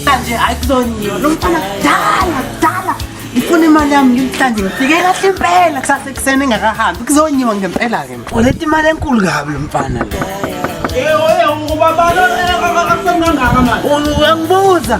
Manje hayi kuzonyiwa lo mfana kudala kudala ngifuna imali yami ngimhlanje ngifike kahle impela kusasa ekuseni engakahambi kuzonyiwa ngempela-ke uleta imali enkulu kabi lo mfana le uyangibuza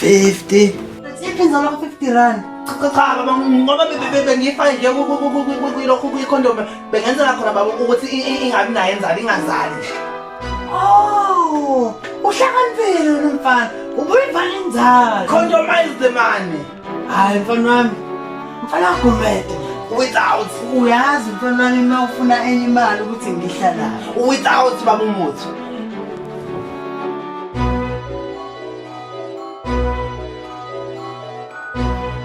50 Siphi nzalo ka 50 rand? Cha cha baba ngoba bengifake nje kulokhu kuyicondom bengenzela khona baba ukuthi ingabi nayo enzalo ingazali. Oh, uhlakaniphile lo mfana. Ubuyivale inzalo. Condomize the money. hayi mfana wami mfana gumede without uyazi mfana wami uma ufuna enye imali ukuthi ngihlala without baba umuthi